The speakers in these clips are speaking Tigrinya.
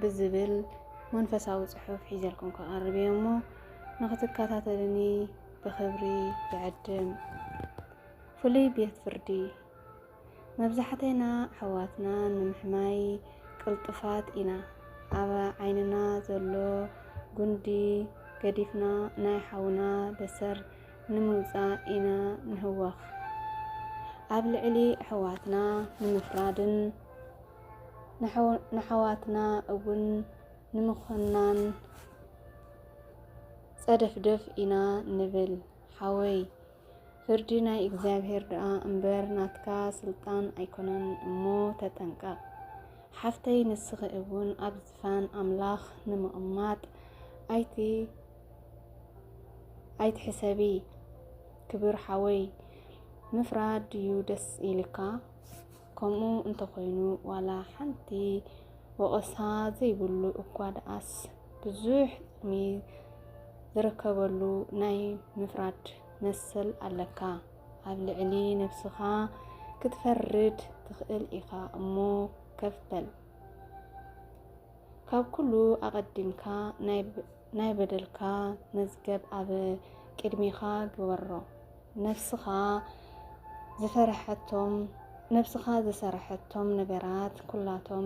ብዝብል መንፈሳዊ ጽሑፍ ሒዘልኩም ክቐርብ እየ እሞ ንኽትከታተልኒ ብኽብሪ ይዕድም። ፍሉይ ቤት ፍርዲ መብዛሕተና ኣሕዋትና ንምሕማይ ቅልጡፋት ኢና። ኣብ ዓይንና ዘሎ ጉንዲ ገዲፍና ናይ ሓውና በሰር ንምውፃእ ኢና ንህወኽ። ኣብ ልዕሊ ኣሕዋትና ንምፍራድን ንኣሕዋትና እውን ንምኹናን ጸደፍደፍ ኢና ንብል። ሓወይ ፍርዲ ናይ እግዚኣብሔር ደኣ እምበር ናትካ ስልጣን ኣይኮነን እሞ ተጠንቀቕ። ሓፍተይ ንስኺ እውን ኣብ ዝፋን ኣምላኽ ንምቕማጥ ኣይቲ ኣይትሕሰቢ ክብር ሓወይ ምፍራድ ድዩ ደስ ኢልካ? ከምኡ እንተኾይኑ ዋላ ሓንቲ ወቐሳ ዘይብሉ እኳ ደኣስ ብዙሕ ጥቕሚ ዝርከበሉ ናይ ምፍራድ መሰል ኣለካ። ኣብ ልዕሊ ነብስኻ ክትፈርድ ትኽእል ኢኻ እሞ ከፍ በል። ካብ ኩሉ ኣቐዲምካ ናይ ናይ በደልካ መዝገብ ኣብ ቅድሜኻ ግበሮ። ነፍስኻ ዝፈረሐቶም ነፍስኻ ዝሰረሐቶም ነገራት ኩላቶም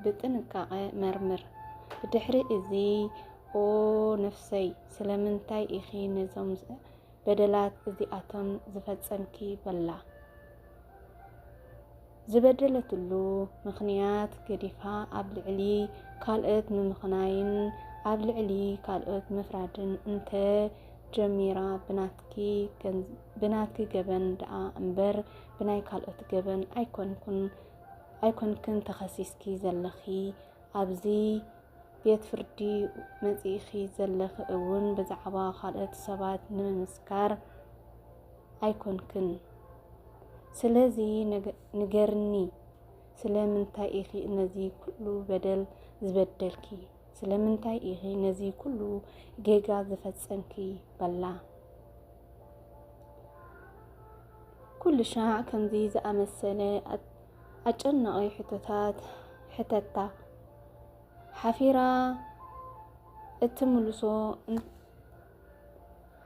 ብጥንቃቐ መርምር። ብድሕሪ እዚ ኦ ነፍሰይ ስለምንታይ ኢኺ ነዞም በደላት እዚኣቶም ዝፈጸምኪ በላ። ዝበደለትሉ ምኽንያት ገዲፋ ኣብ ልዕሊ ካልኦት ምምኽናይን ኣብ ልዕሊ ካልኦት ምፍራድን እንተ ጀሚራ ብናትኪ ገበን ደኣ እምበር ብናይ ካልኦት ገበን ኣይኮንኩን ኣይኮንክን ተኸሲስኪ ዘለኺ ኣብዚ ቤት ፍርዲ መጺእኺ ዘለኺ እውን ብዛዕባ ካልኦት ሰባት ንምምስካር ኣይኮንክን። ስለዚ ንገርኒ፣ ስለምንታይ ኢኺ ነዚ ኩሉ በደል ዝበደልኪ? ስለምንታይ ኢኺ ነዚ ኩሉ ጌጋ ዝፈጸምኪ? በላ። ኩሉ ሻዕ ከምዚ ዝኣመሰለ ኣጨናቒ ሕቶታት ሕተታ። ሓፊራ እትምልሶ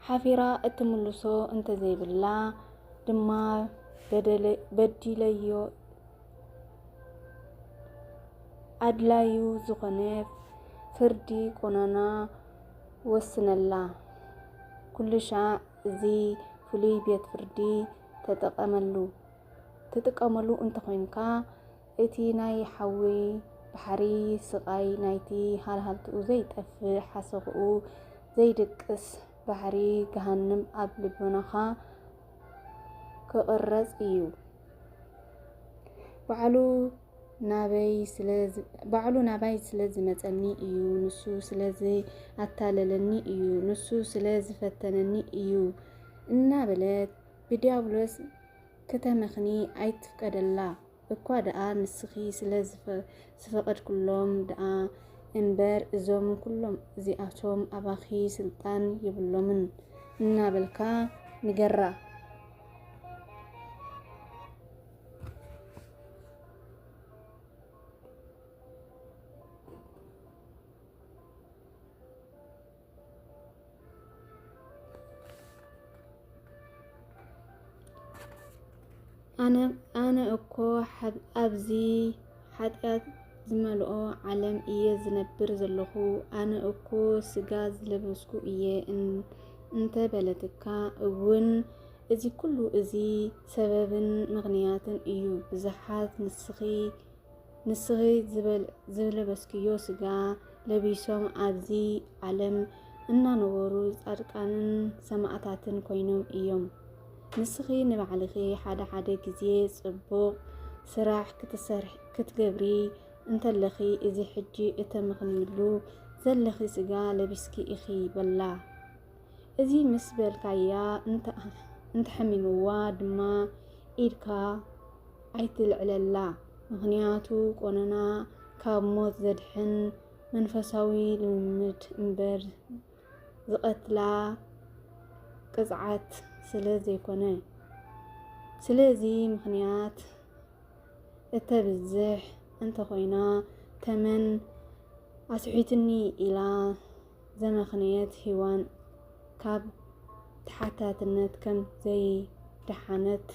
ሓፊራ እትምልሶ እንተዘይብላ ድማ በዲለዮ ኣድላዩ ዝኾነ ፍርዲ ቆናና ወስነላ። ኩሉሻዕ እዚ ፍሉይ ቤት ፍርዲ ተጠቐመሉ። ትጥቀመሉ እንተኾይንካ እቲ ናይ ሓዊ ባሕሪ ስቓይ ናይቲ ሃልሃልትኡ ዘይጠፍእ ሓሰኹኡ ዘይድቅስ ባሕሪ ገሃንም ኣብ ልቦናኻ ክቕረጽ እዩ። ባዕሉ ናባይ ስለ ዝመጸኒ እዩ፣ ንሱ ስለ ዝኣታለለኒ እዩ፣ ንሱ ስለ ዝፈተነኒ እዩ እናበለ ብዲያብሎስ ክተመኽኒ ኣይትፍቀደላ እኳ ደኣ ንስኺ ስለ ዝፈቐድክሎም ደኣ እምበር እዞም ኩሎም እዚኣቶም ኣባኺ ስልጣን የብሎምን እናበልካ ንገራ። ኣነ እኮ ኣብዚ ሓጢኣት ዝመልኦ ዓለም እየ ዝነብር ዘለኹ፣ ኣነ እኮ ስጋ ዝለበስኩ እየ እንተ በለትካ እውን እዚ ኩሉ እዚ ሰበብን ምኽንያትን እዩ። ብዙሓት ንስኺ ንስኺ ዝለበስክዮ ስጋ ለቢሶም ኣብዚ ዓለም እናነበሩ ጻድቃንን ሰማእታትን ኮይኖም እዮም። ንስኺ ንባዕልኺ ሓደ ሓደ ግዜ ጽቡቕ ስራሕ ክትገብሪ እንተለኺ እዚ ሕጂ እተመኽንይሉ ዘለኺ ስጋ ለቢስኪ ኢኺ በላ። እዚ ምስ በልካያ እንተሐሚምዋ ድማ ኢድካ ኣይትልዕለላ ምኽንያቱ ቆነና ካብ ሞት ዘድሕን መንፈሳዊ ልምምድ እምበር ዝቐትላ ቅፅዓት ስለ ዘይኮነ ስለዚ ምኽንያት እተብዝሕ እንተኾይና ተመን ኣስሒትኒ ኢላ ዘመኽንየት ሂዋን ካብ ተሓታትነት ከም ዘይደሓነት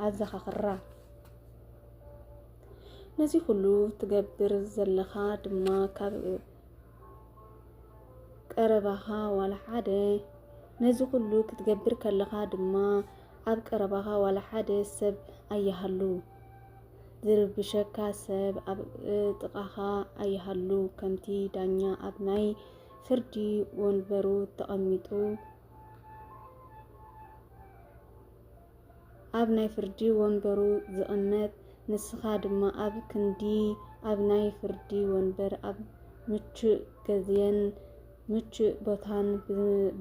ኣዘኻኽራ። ነዚ ኩሉ ትገብር ዘለኻ ድማ ካብ ቀረባኻ ዋላ ሓደ ነዚ ኩሉ ክትገብር ከለኻ ድማ ኣብ ቀረባኻ ዋላ ሓደ ሰብ ኣይሃሉ ዝርብሸካ ሰብ ኣብ ጥቓኻ ኣይሃሉ፣ ከምቲ ዳኛ ኣብ ናይ ፍርዲ ወንበሩ ተቐሚጡ ኣብ ናይ ፍርዲ ወንበሩ ዝቕመጥ፣ ንስኻ ድማ ኣብ ክንዲ ኣብ ናይ ፍርዲ ወንበር ኣብ ምቹእ ገዝየን ምቹእ ቦታን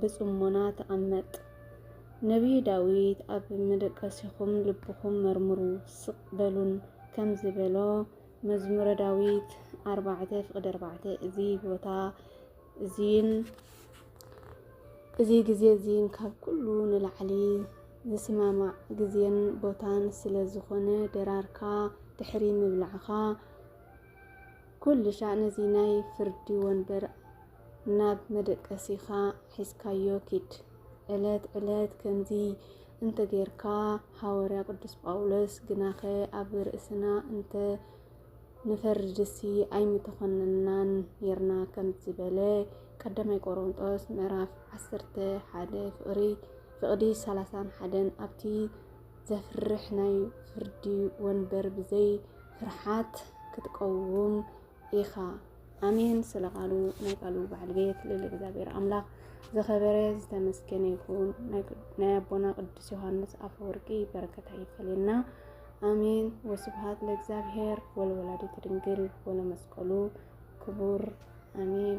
ብጽሞና ተቐመጥ። ነብዪ ዳዊት ኣብ መደቀሲኹም ልብኹም መርምሩ፣ ስቕ በሉን ከም ዝበሎ፣ መዝሙረ ዳዊት ኣርባዕተ ፍቕዲ ኣርባዕተ እዚ ቦታ እዚን እዚ ግዜ እዚን ካብ ኩሉ ንላዕሊ ዝስማማዕ ግዜን ቦታን ስለ ዝኾነ ደራርካ ድሕሪ ምብላዕኻ ኩልሻዕ ነዚ ናይ ፍርዲ ወንበር ናብ መደቀሲኻ ሒዝካዮ ኪድ። ዕለት ዕለት ከምዚ እንተ ጌርካ ሃወርያ ቅዱስ ጳውሎስ ግናኸ ኣብ ርእስና እንተ ንፈርድሲ ኣይምተኾነንናን ኔርና ከም ዝበለ ቀዳማይ ቆሮንጦስ ምዕራፍ ዓሰርተ ሓደ ፍቕሪ ፍቕዲ ሰላሳን ሓደን ኣብቲ ዘፍርሕ ናይ ፍርዲ ወንበር ብዘይ ፍርሓት ክትቀውም ኢኻ ኣሜን ስለ ቃሉ ናይ ቃሉ በዓል ቤት ልል እግዚኣብሔር ኣምላኽ ዝኸበረ ዝተመስገነ ይኹን ናይ ኣቦና ቅዱስ ዮሃንስ ኣፈወርቂ በረከታ ይፈለየና ኣሜን ወስብሃት ለእግዚኣብሔር ወለወላዲት ድንግል ወለመስቀሉ ክቡር ኣሜን